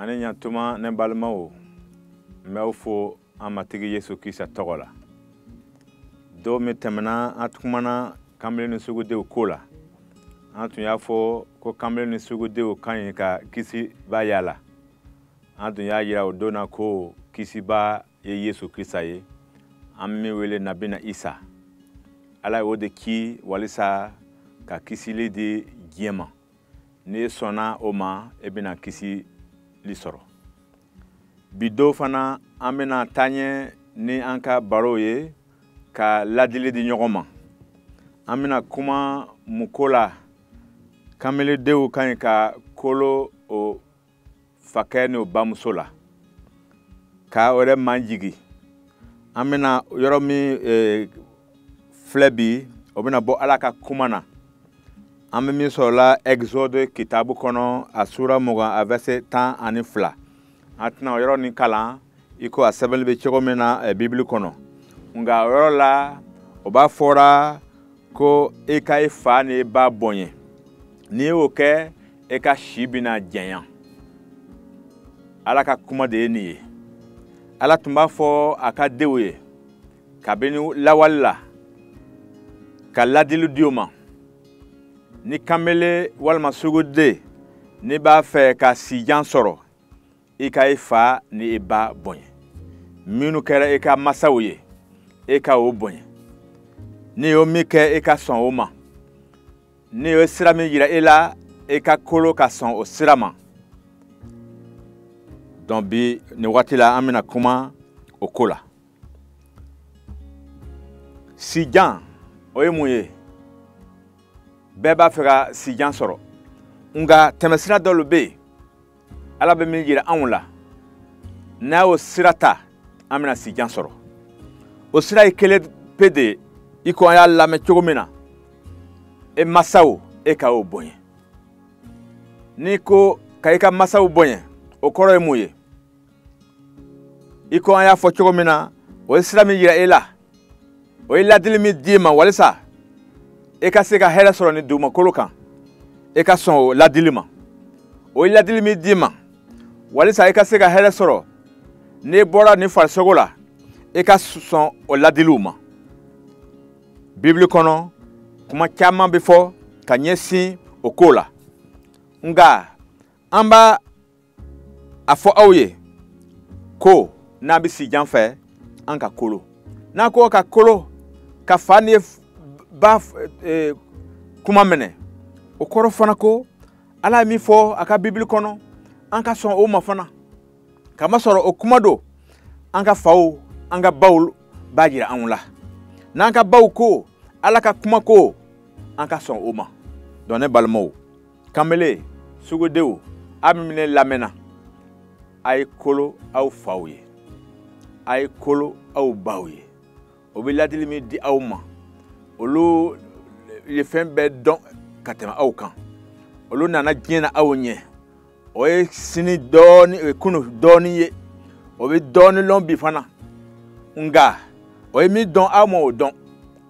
a ni ɲatuma ne balimaw n b'aw fo an matigi yesu krista tɔgɔ la don min tɛmɛna an kumana kanbele ni sugudenw ko la an tun y'a fɔ ko kanbele ni sugudenw ka ɲi ka kisibaa yaala an tun y'a yira o don na ko kisibaa ye yesu krista ye an bɛ min wele nabina isa ala ye o de ci walisa ka kisili di diɲɛ ma n'i sɔnna o ma e bɛna kisili sɔrɔ bi don fana an bɛna taaɲɛ ni an ka barow ye ka ladili di ɲɔgɔn ma an bɛna kuma mun ko la kanbeledenw ka ɲi ka kolo o fakɛ n'o bamuso la ka o yɛrɛ majigi an bɛna yɔrɔ min e, filɛ bi o bɛna bɔ ala ka kuma na an bɛ min sɔrɔla exode kitabu kɔnɔ a sura mugan a verset tan ani fila an tɛna o yɔrɔ nin kalan i ko a sɛbɛnnen bɛ cogo min na e, bibili kɔnɔ nka o yɔrɔ la o b'a fɔra ko i ka i fa ni i ba bonya n'i y'o kɛ e ka si bɛna janya ala ka kuma de ye nin ye ala tun b'a fɔ a ka denw ye kabini lawali la ka ladili di o ma ni kanbele walima suguden n'i b'a fɛ ka sijan sɔrɔ i ka i fa ni i ba bonya minnu kɛra i ka masaw ye i ka o bonya n'i y'o min kɛ i ka sɔn o ma n'o ye sira min yira e la e ka kolo ka sɔn o sira ma donc bi nin wagati la an bɛna kuma o ko la sijan o ye mun ye bɛɛ b'a fɛ ka sijan sɔrɔ nka tɛmɛsira dɔ bɛ yen ala bɛ min jira anw la n'an y'o sira ta an bɛna sijan sɔrɔ o sira ye kelen pe de ye i ko an y'a lamɛn cogo min na e masaw e ka o bonya n'i ko ka i ka masaw bonya o kɔrɔ ye mun ye i ko an y'a fɔ cogo min na o ye sira min yira e la o ye ladili min d'i ma walisa e ka se ka hɛrɛ sɔrɔ nin dugumakolo kan e ka sɔn o ladili ma o ye ladili min d'i ma walisa e ka se ka hɛrɛ sɔrɔ n'i bɔra nin farisogo la e ka sɔn o ladiliw ma bibili kɔnɔ kuma caman bɛ fɔ ka ɲɛsin o ko la nka an b'a a fɔ aw ye ko n'a bɛ sijan fɛ an ka kolo n'a ko ka kolo ka fa ni ba e, kuma minɛ o kɔrɔ fana ko ala ye min fɔ a ka bibili kɔnɔ an ka sɔn o ma fana kamasɔrɔ o kuma don an ka faw an ka baw b'a jira anw la n'an ka baw ko ala ka kuma ko an ka sɔn o ma donc ne balimaw kanbele sungurunw a min bɛ ne lamɛnna a ye kolo aw faw ye a ye kolo aw baw ye o bɛ ladili min di aw ma olu ye fɛn bɛɛ dɔn ka tɛmɛ aw kan olu nana diɲɛ na aw ɲɛ o ye sini dɔɔni o ye kunu dɔɔni ye o bɛ dɔɔni lɔn bi fana nka o ye min dɔn aw ma o dɔn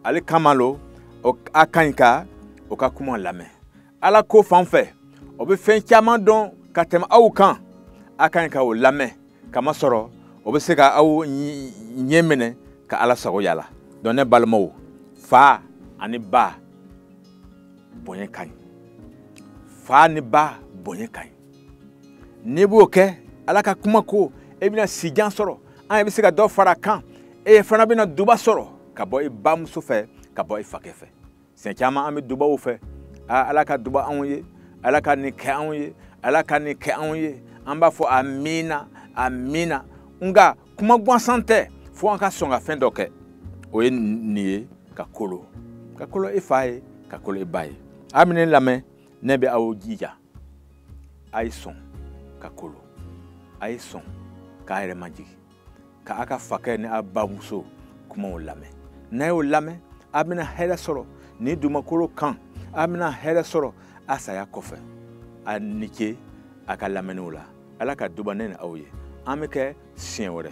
ale kama lo a ka ɲi ka o ka kuma lamɛn ala ko fan fɛ o bɛ fɛn caman dɔn ka tɛmɛ aw kan a ka ɲi ka o lamɛn kamasɔrɔ o bɛ se ka aw ɲɛminɛ ka ala sago yira a la donc ne balimaw fa ani ba bonya ka ɲi fa ni ba bonya ka ɲi n'i b'o kɛ ala ka kuma ko e bɛna sijan sɔrɔ an yɛrɛ bɛ se ka dɔ fara a kan e fana bɛna duba sɔrɔ ka bɔ i bamuso fɛ ka bɔ i fakɛ fɛ siɲɛ caman an bɛ dubaw fɛ aa ala ka duba anw ye ala ka nin kɛ anw ye ala ka nin kɛ anw ye an b'a fɔ amiina amiina nka kuma gansan tɛ fo an ka sɔn ka fɛn dɔ kɛ o ye nin ye ka kolo ka kolo i fa ye ka kolo i ba ye a min bɛ ne lamɛn ne bɛ aw jija a ye sɔn ka kolo a ye sɔn k'a yɛrɛ majigi ka a ka fakɛ ni a bamuso kumaw lamɛn n'a y'o lamɛn a bɛna hɛrɛ sɔrɔ nin dugumakolo kan a bɛna hɛrɛ sɔrɔ a saya kɔfɛ a ni ce a ka lamɛnniw la ala ka duba ne ni aw ye an bɛ kɛ siɲɛ wɛrɛ